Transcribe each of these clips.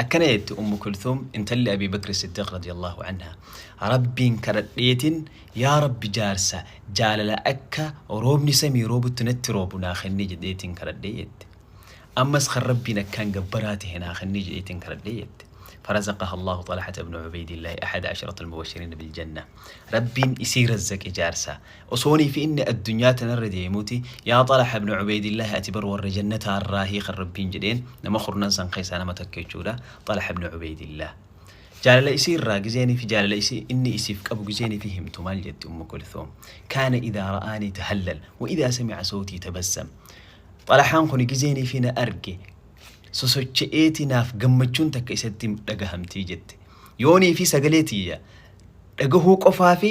Akkana jette Ummu Kulthum intalli Abii Bakri Siddiq radiyallahu anha, Rabbiin kadhadheetin yaa Rabbi jaarsa jaalala akka roobni samii roobutti natti roobu naa kenni jedheetin kadhadhe jette. Ammas kan Rabbiin akkaan gabbaraa tahe naa kenni jedheetin kadhadhe jette. Farazaqaha Allaahu Xalhata ibnu Ubeeydillahi ahada asharatal mubashiriina bil jannah. Rabbiin isii razzaqe jaarsa Osoonii fi inni addunyaa tanarra deemuuti, Yaa Xalha ibn Ubaydillah ati bar warra jannataa irraahi kan Rabbiin jedheen, nama kurnan san keessaa nama tokko jechuudha, Xalha ibn Ubaydillah. Jaalala isii irraa gizeen fi jaalala isii inni isiif qabu gizeen ifi himtu maal jetti Ummu Kulthum, Kaana idhaa ra'aanii tahallal, wa idhaa sami'a sawtii tabassam. Xalhaan kuni gizeen ifi na arge sosocha'eeti naaf gammachuun takka isatti dhagahamti jette. Yoonii fi sagalee tiyya dhagahuu qofaa fi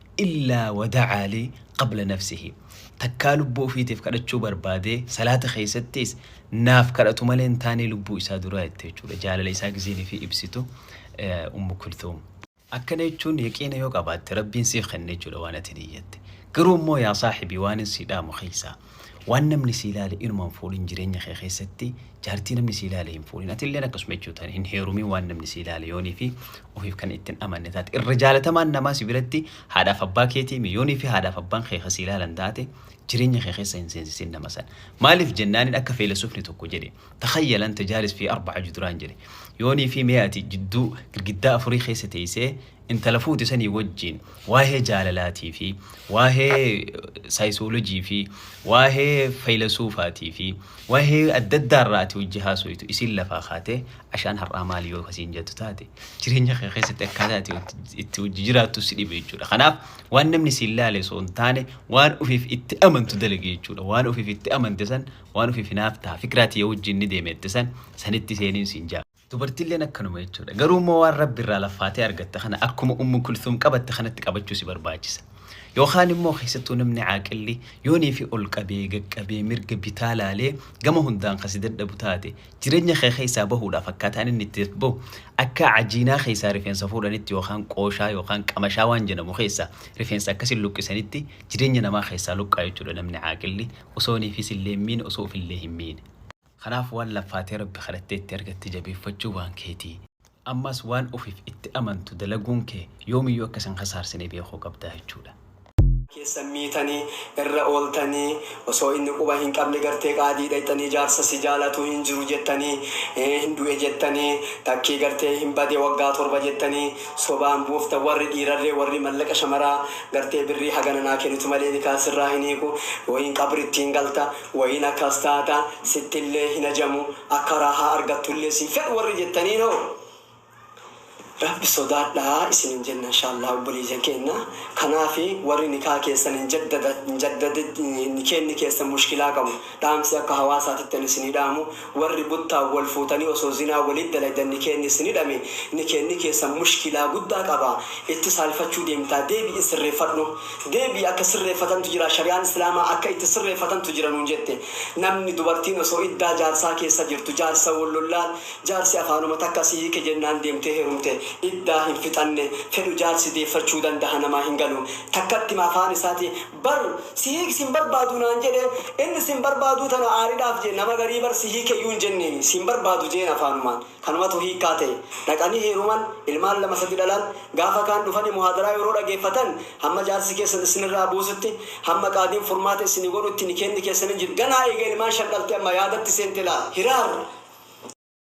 illaa wada'aa lii qabla nafsihi takkaa lubbuu ofiitiif kadhachuu barbaadee salaata keessattiis naaf kadhatu malee hin taanee lubbuu isaa duraa jette jechuudha jaalala isaa gizeen ifii ibsitu ummu kultuum. Akkana jechuun yaqiina yoo qabaatte rabbiin siif kenna jechuudha waan atin iyyatte. Garuu immoo yaa saahibii waanin sii dhaamu keessaa Waan namni sii laale inuma hin fuudhin jireenya kee keessatti jaartii namni sii laale hin fuudhin atilleen akkasuma jechuudha hin heerumin waan namni sii laale yoonii fi ofiif kan ittin amanne taate irra jaalatamaan namaa si biratti haadhaaf abbaa keetii mi yoonii fi haadhaaf abbaan kee ka sii laalan taate jireenya kee keessa hin seensisin nama san maaliif jennaanin akka feelasufni tokko jedhe takhayyal anta jaalis fi arba'a juduraan jedhe yoonii fi mee ati jidduu girgiddaa afurii keessa teessee intala fuute sanii wajjiin waa'ee jaalalaatii fi waa'ee saayisoolojii fi waa'ee faylasuufaatii fi waa'ee adda addaa irraa ati hojii haasoytu isiin lafaa kaatee ashaan har'aa maali yoo kasiin jettu taate jireenya kee keessatti akkaataa ati itti hojii jiraattu si dhibe jechuudha. Kanaaf waan namni siin laale osoo hin taane waan ofiif itti amantu dalage jechuudha. Waan ofiif itti amante san waan ofiif hinaaftaa fikiraa tiyya wajjin ni deemette san sanitti seeniin siin jaa. Dubartilleen akkanuma jechuudha. Garuu immoo waan Rabbi irraa laffaatee argatte kana akkuma Ummu Kulthum qabatte kanatti qabachuu si barbaachisa. Yookaan immoo keessattuu namni caaqilli yoonii fi ol qabee, gaqqabee, mirga, bitaa laalee gama hundaan kan si dadhabu taate jireenya kee keessaa bahuudhaaf akkaataan inni itti dadbahu akka cajiinaa keessaa rifeensa fuudhanitti yookaan qooshaa yookaan qamashaa waan jedhamu keessaa rifeensa akkasiin luqqisanitti jireenya namaa keessaa luqqaa jechuudha namni caaqilli osoo niifis illee hin miine osoo ofillee hin miine. Kanaaf waan laffaatee Rabbi kadhattee itti argatte jabeeffachuun waan keeti. Ammas waan ofiif itti amantu dalaguun kee yoomiyyuu akka sin kasaarsine beekuu qabda jechuudha. keessan miitanii irra ooltanii osoo inni quba hin qabne gartee qaadii dhayxanii jaarsa si jaalatu hin jiru jettanii hin du'e jettanii takkii gartee hin bade waggaa torba jettanii sobaan buuftan warri dhiirarree warri mallaqa shamaraa gartee birrii hagana naa kenitu malee nikaa sirraa hin hiiku yooin qabritti hin galta Wayiin akkas taata, sittillee hin hajamu, akka raahaa argattullee sin fedhu warri jettaniinoo, Rabbi sodaadhaa isiniin jenna inshaallaa obboleeyyan keenna. Kanaafi warri nikaah keessan hin jaddada, hin jaddada, nikeenni keessan mushkilaa qabu, dhaamsi akka hawaasaatitti ani isinii dhaamu, Warri buttaan wal fuutanii osoo zinaa waliit dalaydan nikeenni isin hidhame nikeenni keessan mushkilaa guddaa qaba itti saalfachuu deemtaa deebi'i sirreeffadhu deebi'i akka sirreeffatantu jira shari'aan islaamaa akka itti sirreeffatantu jira nuun jette namni dubartiin osoo iddaa jaarsaa keessa jirtu jaarsa wal lollaan jaarsi afaanuma takka si hiike jennaan deemtee herumte iddaa hin fixanne fedhu jaarsi deeffachuu dandaha namaa hin galu takkattima afaan isaati Bar si hiik sin barbaadu naan jedhe inni sin barbaaduu tana aaridhaaf jee nama garii bar si hiikeyyuu hin jenneeni sin barbaadu jeen afaanumaan kanumatu hiikkaa ta'e dhaqanii heeruman ilmaan lama sadi dhalan gaafa kaan dhufani muhaadaraa yeroo dhageeffatan hamma jaarsi keessan isinirraa buusutti hamma qaadiin furmaata isini godhutti nikeenni keessan hin jiru ganaa eega ilmaan shan dhalte amma yaadatti seente laal hiraar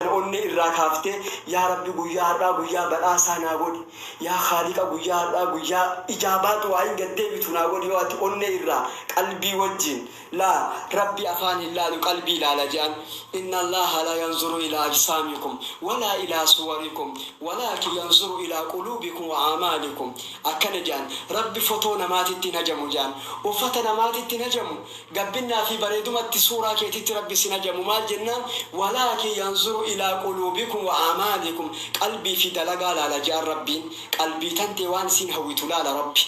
Kan onnee irraa kaaftee yaa Rabbi guyyaa har'aa guyyaa badhaasaa naa godhi, yaa Khaaliqa guyyaa har'aa guyyaa ijaabaa du'aa'iin gad deebitu naa godhi yoo ati onnee irraa qalbii wajjiin laa Rabbi afaan hin laalu qalbii ilaala je'an. Inna Allaaha laa yanzuru ilaa ajsaamikum walaa ilaa suwarikum walaakin yanzuru ilaa quluubikum wa a'maalikum. Akkana je'an, Rabbi fotoo namaatitti hin hajamu je'an. Uffata namaatitti hin hajamu. Gabbinnaa fi bareedumatti suuraa keetitti Rabbi sin hajamu maal jennaan walaakin yanzuru ilaa quluubikum wa aamaalikum qalbii fi dalagaa laala je'an Rabbiin qalbii tantee waan isiin hawwitu laala Rabbi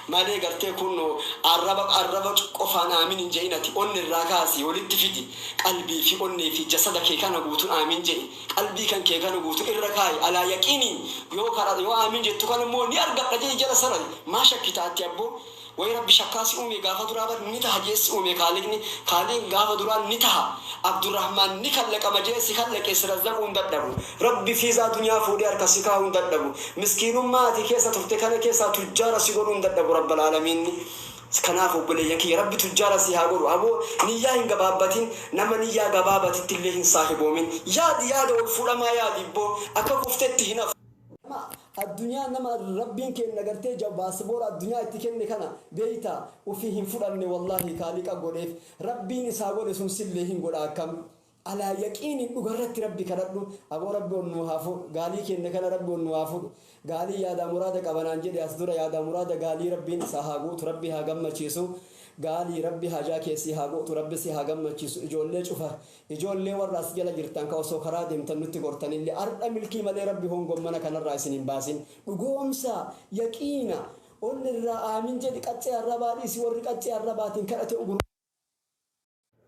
malee gartee kunnoo arraba arraba qofaan aamiin hin je'in ati onne irraa kaasi walitti fidi qalbii fi onnee fi jasada kee kana guutun aamiin je'i qalbii kan kee kana guutu irra kaayi alaa yaqiiniin yoo kadha yoo aamiin jettu kana immoo ni argadha je'i jala sara'i maa shakkita atti abboo Way rabbi shakkaa si uumee gaafa duraa bar ni taha jee si uumee kaaliqni kaaliiq gaafa duraa ni taha abdurahmaan ni kallaqama jee si kallaqee si razzaquu hin dadhabu rabbi fiizaa dunyaa fuudhee harka si kaahuu hin dadhabu miskiinummaa ati keessa turte kana keessaa tujjaara si godhuu hin dadhabu rabbal aalamiinni kanaaf obboleeyyan kiyya rabbi tujjaara si haa godhu aboo niyyaa hin gabaabbatin nama niyyaa gabaabatittillee hin saahiboomin yaadi yaada ol fuudhamaa yaadi ibboo akka kuftetti hin hafu Nama addunyaa nama rabbiin keenna gartee ja baasboora addunyaa itti kenne kana beeyta ufii hin fudhanne wallaahi kaaliqa godheef rabbiin isaa godhe sun sillee hin godha akkam alaa yaqiinin dhugarratti rabbi kadhadhu aboo rabbi ol nuu haa fuudhu gaalii keenna kana rabbi ol nuu haa fuudhu gaalii yaadaa muraada qaba naan jedhe as dura yaadaa muraada gaalii rabbiin isaa haa guutu rabbi haa gammachiisu gaalii rabbi hajaa kee sii haa guutu rabbi si haa gammachiisu ijoollee cufa Ijoollee warra as jala jirtan ka osoo karaa deemtan nutti gortanille ardha milkii malee Rabbi hongommana kanarraa isin hin baasin. Dhugoomsaa, yaqiina, onne irraa aamin jedhi qaccee arrabaa dhiisi warri qaccee arrabaatiin kadhate ugurruu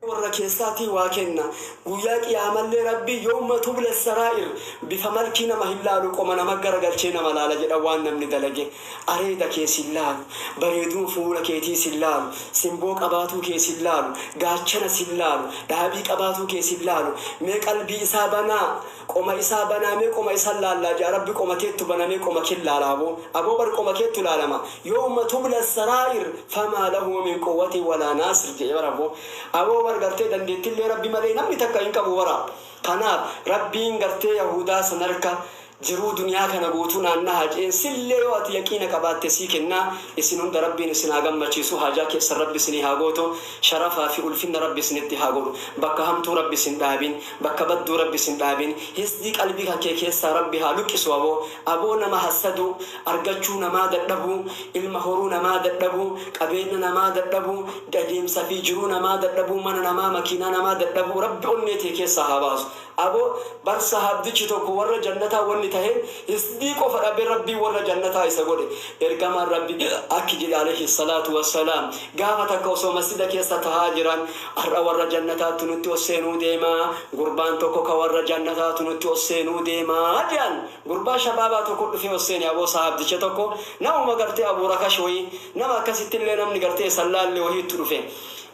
Rabbi warra keessaatii waa kenna. Guyyaa qiyaamallee Rabbi yowma tubla saraa'ir bifa malkii nama hin laalu qoma nama gara galchee nama laala jedhan waan namni dalage. Areeda kee sin laalu, bareeduu fuula keetii sin laalu, simboo qabaatuu kee sin laalu, gaachana sin laalu, dhaabii qabaatuu kee sin laalu, mee qalbii isaa banaa, qoma isaa banaa mee qoma isan laallaa ja'a rabbi qoma keettu bana mee qoma kin laala aboo, aboo bar qoma keettu laalama, yowma tubla sarair famaa lahu min quwati walaa naasir je'e bar aboo, aboo bar gartee dandeettillee rabbi malee namni takka hin qabu bara, kanaaf rabbiin gartee yahuudaa san harka Jiruu duniyaa kana guutuu naan nahaa je'een sillee yoo ati yaqiina qabaatte sii kennaa isin hunda rabbiin isin haa gammachiisu haajaa keessan rabbi isinii haa gootu sharafaa fi ulfinna rabbi isinitti haa godhu bakka hamtuu rabbi isin dhaabin bakka badduu rabbi isin dhaabin hisdii qalbii kan kee keessaa rabbi haa luqqisu aboo aboo nama hassaduu argachuu namaa dadhabuu ilma horuu namaa dadhabuu qabeenna namaa dadhabuu adeemsa fi jiruu namaa dadhabuu mana namaa makiinaa namaa dadhabuu rabbi onnee tee keessaa haa baasu Abo bar sahabdichi tokko warra jannataa wanni taheen hisdii qofa dhabe rabbiin warra jannataa isa godhe ergamaan rabbi akki jedhe aleyhi salaatu wassalaam gaafa takka osoo masjida keessa tahaa jiran ar'a warra jannataattu nutti ol seenuu deemaa gurbaan tokko ka warra jannataatu nutti ol seenuu deemaa je'an gurbaa shabaabaa tokko dhufee ol seene aboo sahabdicha tokko namuma gartee abu rakash wayii nama akkasittillee namni gartee isa hin laalle wahiittu dhufe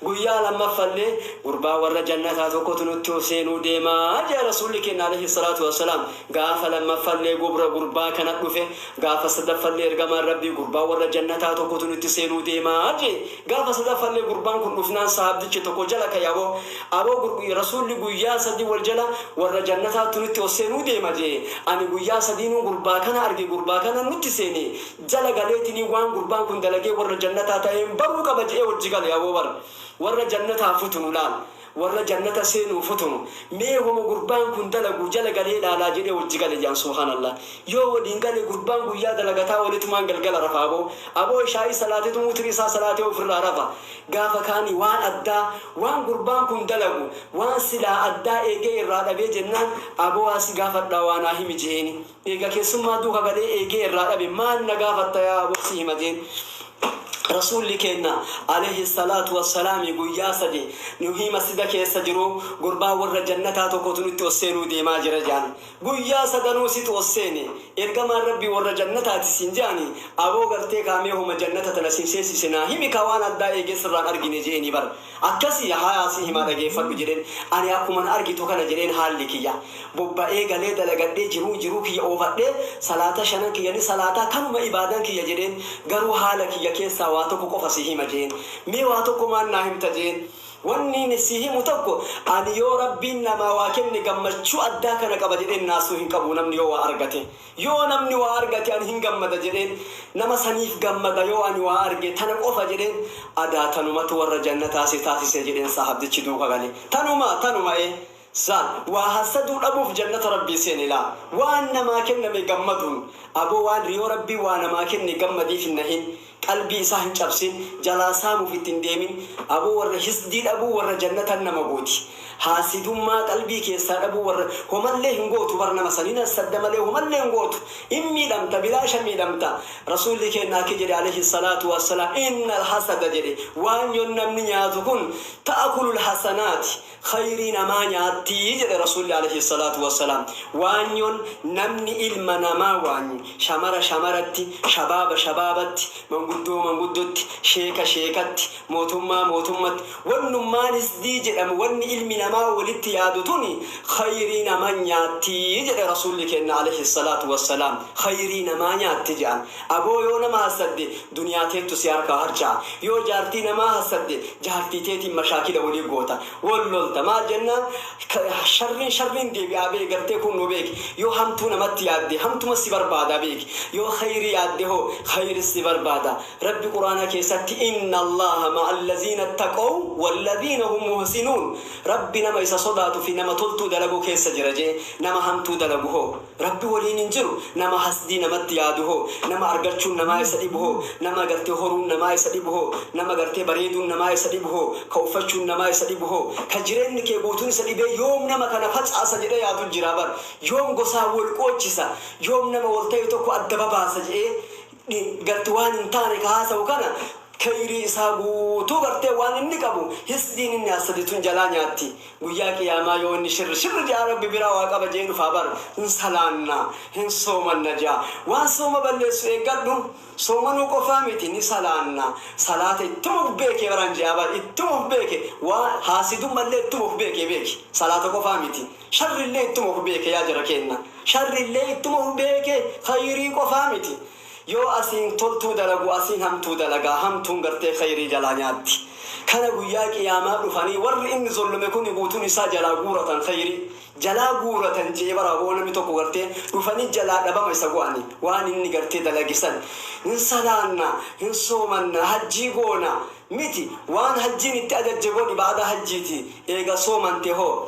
Guyyaa lammaffallee gurbaa warra jannataa tokkotu nutti ol seenuu deema jea Rasuulli keenna aleyhi salaatu wassalaam. Gaafa lammaffallee gubra gurbaa kana dhufe. Gaafa sadaffallee Ergamaan Rabbii gurbaa warra jannataa tokkotu nutti seenuu deema jee. Gaafa sadaffallee gurbaan kun dhufnaan sahaabdichi tokko jala kaye aboo aboo gurb Rasuulli guyyaa sadii wal jala warra jannataattu nutti ol seenuu deema jee. Ani guyyaa sadiinuu gurbaa kana arge gurbaa kana nutti seene. jala galeetini waan gurbaan kun dalagee warra jannataa ta'een baruu qaba je'ee wajji gale aboo bar warra jannataa futunu laal warra jannata seenuu futunu mee homa gurbaan kun dalagu jala galee laalaa jedhee wajji gale je'an subhaanallah yoo waliin gale gurbaan guyyaa dalagataa oletumaan galgala rafa aboo aboo ishaa'ii salaatetu wutri isaa salaatee ofirraa rafa gaafa kaani waan addaa waan gurbaan kun dalagu waan silaa addaa eegee irraa dhabee jennaan aboo waa si gaafadhaa waa naa himi je'eeni Eega keessummaa duuka galee eegee irraa dhabe maal na gaafatta yaa aboo si hima jeen. Rasuulli keenna, aleyhi salaatu wa salaami, guyyaa sadi nuhii masjida keessa jiruu gurbaa warra jannataa tokkotu nutti ol seenuu deemaa jira je'an. Guyyaa sadanuu situ ol seene. Ergamaan Rabbii warra jannataati siin je'ani. Aboo gartee kaa mee homa jannata tana sin seensise naa himi kaa waan addaa eegee sirraan argine je'eenii bar. Akkasi hayaa si himaa dhageefadhu jedheen ani akkuma na argitu kana jedheen haalli kiyya bobba ee galee dalagadhee jiruu jiruu kiyya oofadhee salaata shanan kiyya ni salaataa kanuma ibaadan kiyya jedheen garuu haala kiyya keessaa waa tokko qofa si hima jeen mee waa tokko maal naa himta jeen wanniin si himu tokko ani yoo rabbiin namaa waa kenne gammachuu addaa kana qaba jedheen naasuu hin qabu namni yoo waa argate Yoo namni waa argate ani hin gammada jedheen nama saniif gammada yoo ani waa arge tana qofa jedheen adaa tanumatu warra jannataa si taasise jedheen saahabdichi duuka gale tanuma tanuma ee zaan waa hassaduu dhabuuf jannata rabbii seene laa waan namaa kenname gammaduun aboo waan riyoo rabbii waa namaa kenne gammadiif hin nahin Qalbii isaa hin cabsin, jalaa saamuuf itti hin deemin. Aboo warra hisdii dhabuu warra jannatan nama gooti. Haasidummaa qalbii keessaa dhabuu warra homallee hin gootu bar nama san hin hassadda malee homallee hin gootu. Hin miidhamta bilaasha miidhamta. Rasuulli keenna akki jedhe aleyhi salaatu wassalaam innal hasada jedhe waan yon namni nyaatu kun ta'akulul hasanaati. khayrii namaa nyaatti jedhe Rasuulli aleyhi salaatu wa salaam. Waanyoon namni ilma namaa waanyu, shamara shamaratti, shabaaba shabaabatti, manguddoo manguddotti, sheeka sheekatti, mootummaa mootummatti, wannummaan hisdii jedhamu wanni ilmi namaa walitti yaadu tuni khayrii nama nyaatti jedhe Rasuulli keenna aleyhi salaatu wa salaam. Khayrii namaa nyaatti je'an. Aboo yoo nama hassadde, Duniyaa teettu si harkaa harca'a. Yoo jaartii namaa hassadde jaartii teetiin mashaakila walii goota. Wal lolta. Maal jennaan sharriin sharriin deebi'aa bee gartee kuunnoo beeki. Yoo hamtuu namatti yaadde hamtuma si barbaada beeki. Yoo khayrii yaadde hoo khayri si barbaada. Rabbi quraana keessatti inna Allaaha ma'allaziina ittaqaw wallaziina hum muhsinuun Rabbi nama isa sodaatu fi nama toltuu dalagu keessa jira je'e. Nama hamtuu dalagu hoo. Rabbi woliin hin jiru. Nama hasdii namatti yaadu hoo? Nama argachuun namaa isa dhibu hoo? Nama gartee horuun namaa isa dhibu hoo? Nama gartee bareeduun namaa isa dhibu hoo? Ka uffachuun namaa isa dhibu hoo? Ka jireenni kee guutuun isa dhibee yoom nama kana facaasa jedhee yaadu jira bar. Yoom gosaan wol qoochisa, yoom nama wol tahe tokko adda babaasa jedhee dhi gatti waan hin taane ka haasa'u kana keyrii isaa guutuu gartee waan inni qabu hisdiin inni hassadi tun jalaa nyaatti guyyaa qiyaamaa yoo inni shirr shirr ja'a rabbi biraa waa qaba je'ee dhufaa bar hin salaanna hin soomanna ja'a waan sooma balleessu eeggadhu soomanuu qofaa miti ni salaanna salaata ittuma uf beekee baraan je'aa bar ittuma uf beeke waa haasidummallee ittuma uf beekee beeki salaata qofaa miti Sharrillee ittuma uf beeke yaa jara keenna. Sharrillee ittuma uf beeke khayrii qofaa miti. Yoo asiin toltuu dalagu asiin hamtuu dalaga, hamtuun gartee khayrii jalaa nyaatti. Kana guyyaa qiyaamaa dhufanii warri inni zollome kuni guutuun isaa jalaa guuratan khayrii. Jalaa guuratan je'e bara hoo namni tokko gartee dhufanii jalaa dhabama isa go'ani. Waan inni gartee dalage san hin salaanna, hin soomanna, hajjii goona miti. Waan hajjiin itti ajajje godhi ba'adaa hajjiiti eega soomante hoo.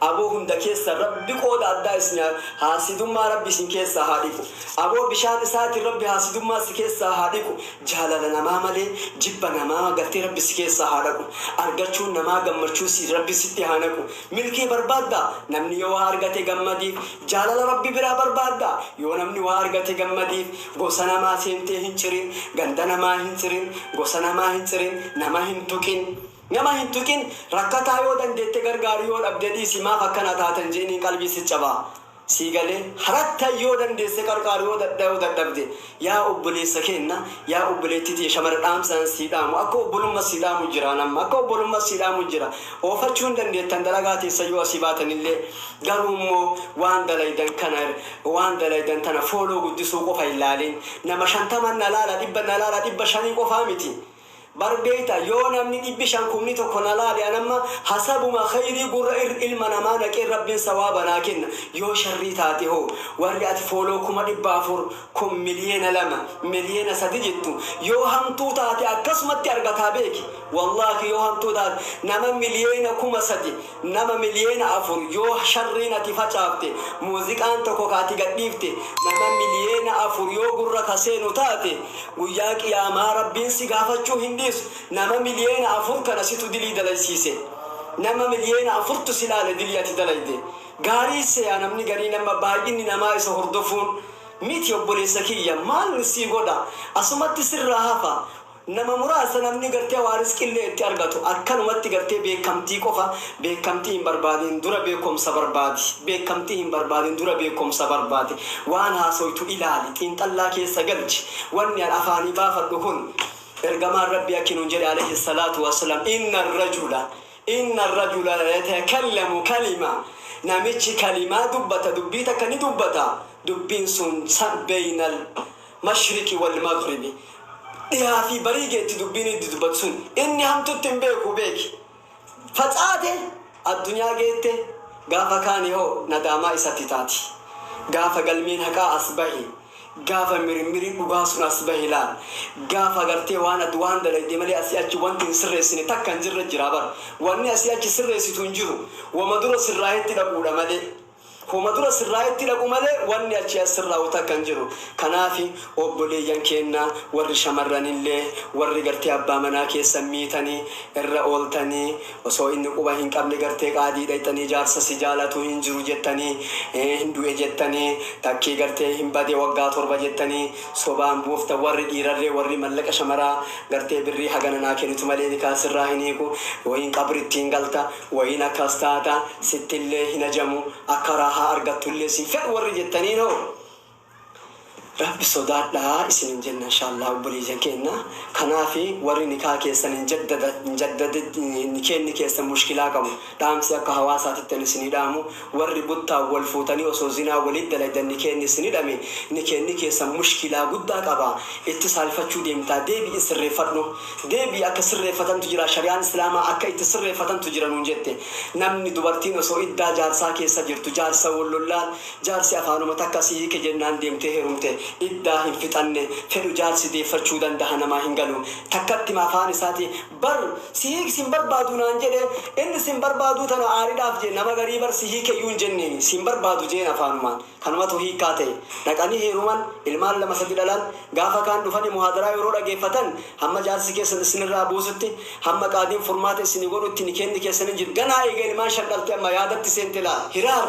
Aboo hunda keessa rabbi qooda addaa isin haa haasidummaa rabbi isin keessaa haa dhiqu aboo bishaan isaatin rabbi haasidummaa si keessaa haa dhiqu jaalala namaa malee jibba namaa galtee rabbi si keessaa haa dhaqu argachuun namaa gammachuu si rabbi sitti haa naqu milkii barbaadda namni yoo waa argate gammadiif jaalala rabbi biraa barbaadda yoo namni waa argate gammadiif gosa namaa seentee hin cirin ganda namaa hin cirin gosa namaa hin cirin nama hin tuqin Nama hin tuqin rakkataa yoo dandeette gargaari yoo dhabde dhiisi maaf akkana taata hin je'iniin qalbii sit caba sii galee harattan yoo dandeesse qarqaari yoo dadhabde yaa obboleessa keenna yaa obboleetti tiyya shamara dhaamsan sii dhaamu akka obbolumma sii dhaamu jira an amma akka obbolumma sii dhaamu jira oofachuu hin dandeettan dalagaa teessan yoo asii baatanillee garuu immoo waan dalaydan kana waan dalaydan tana fooloo guddisuu qofa hin laaliin nama shantaman na laala dhibba na laala dhibba shanii qofaa miti Bar beekta yoo namni dhibbi shan kumni tokko na laale an amma hasabuma kheyrii gurra irr ilma namaa naqeen rabbin sawaaba naa kenna yoo sharrii taate hoo warri ati follow kuma dhibba afur kun miliyeena lama miliyeena sadi jettu yoo hamtuu taate akkasumatti argataa beeki wallahi yoo hamtuu taate nama miliyeena kuma sadi Nama miliyeena afur yoo sharriin ati facaafte muuziqaan tokko ka ati gadhiifte nama miliyeena afur yoo gurra ka seenu taate guyyaa qiyaamaa Rabbiin si gaafachuu hin dhiisu nama miliyeena afur kana situ dilii dalaysiise nama miliyeena afurtu si laale dilii ati dalayde gaarii seya namni garii nama baay'inni namaa isa hordofuun miti obboleessa kiyya maal sii godha asumatti sirraa hafa Nama muraasa namni gartee waa risqillee itti argatu akkanumatti gartee beekkamtii qofa beekkamtii hin barbaadin dura beekomsa barbaadi beekkamtii hin barbaadin dura beekomsa barbaadi waan haasoytu ilaali xiinxallaa keessa galchi wanni an afaanii baafadhu kun ergamaan rabbii akki nuun jedhe aleyhi salaatu wassalam inna rajula inna rajula yatakallamu kalima namichi kalimaa dubbata dubbii takka ni dubbata dubbiin sun sa beynal mashriqi wal maghribi, dhihaa fi barii geetti dubbiin iddi dubbatu sun. Inni hamtutti hin beeku beeki. Facaate addunyaa geette gaafa kaane hoo nadaamaa isatti taati. Gaafa galmeen haqaa as bahe, gaafa mirmiri dhugaa sun as bahe laal. Gaafa agartee waan ati waan dalagde malee asii achi wanti hin sirreessine takka hin jirre jira bar. Wanni asii achi sirreessitu hin jiru. Wama dura sirraahetti dhaquudha malee. Homa dura sirraayetti dhaqu malee wanni achii as sirraawu takka hin jiru. Kanaafi obboleeyyan keenna warri shamarranillee warri gartee abbaa manaa keessan miitanii irra ooltanii osoo inni quba hin qabne gartee qaadii dhayxanii jaarsa si jaalatu hin jiru jettanii hin du'e jettanii takkii gartee hin bade waggaa torba jettanii sobaan buuftan warri dhiirarree warri mallaqa shamaraa gartee birrii hagana naa kenitu malee nikaa sirraa hin hiiku yookiin qabritti hin galta Wayiin akkas taata, sittillee hin hajamu, akka raahaa argattullee sin fedhu warri jettaniin hoo? Rabbi sodaadhaa isiniin jenna inshaallaa obboleeyyan keenna. Kanaafi warri nikaah keessan hin jaddada, hin jaddada, nikeenni keessan mushkilaa qabu. Dhaamsi akka hawaasaatitti ani isinii dhaamu, Warri buttaan wal fuutanii osoo zinaa waliit dalaydan nikeenni isin hidhame nikeenni keessan mushkilaa guddaa qaba itti saalfachuu deemtaa deebi'i sirreeffadhu deebi'i akka sirreeffatantu jira shari'aan islaamaa akka itti sirreeffatantu jira nuun jette namni dubartiin osoo iddaa jaarsaa keessa jirtu jaarsa wal lollaan jaarsi afaanuma takka si hiike jennaan deemtee herumte iddaa hin fixanne fedhu jaarsi deeffachuu dandaha namaa hin galu takkattima afaan isaati bar si hiik sin barbaadu naan jedhe inn sin barbaaduu tana aaridhaaf jee nama garii bar si hiikeyyuu hin jenneeni sin barbaadu jeen afaanumaan kanumatu hiikkaa ta'e dhaqanii heeruman ilmaan lama sadi dhalan gaafa kaan dhufani muhaadaraa yeroo dhageeffatan hamma jaarsi keessan issinirraa buusutti hamma qaadiin furmaata issini godhutti nikeenni keessan hin jiru ganaa eega ilmaan shan dhalte amma yaadatti seente laa hiraar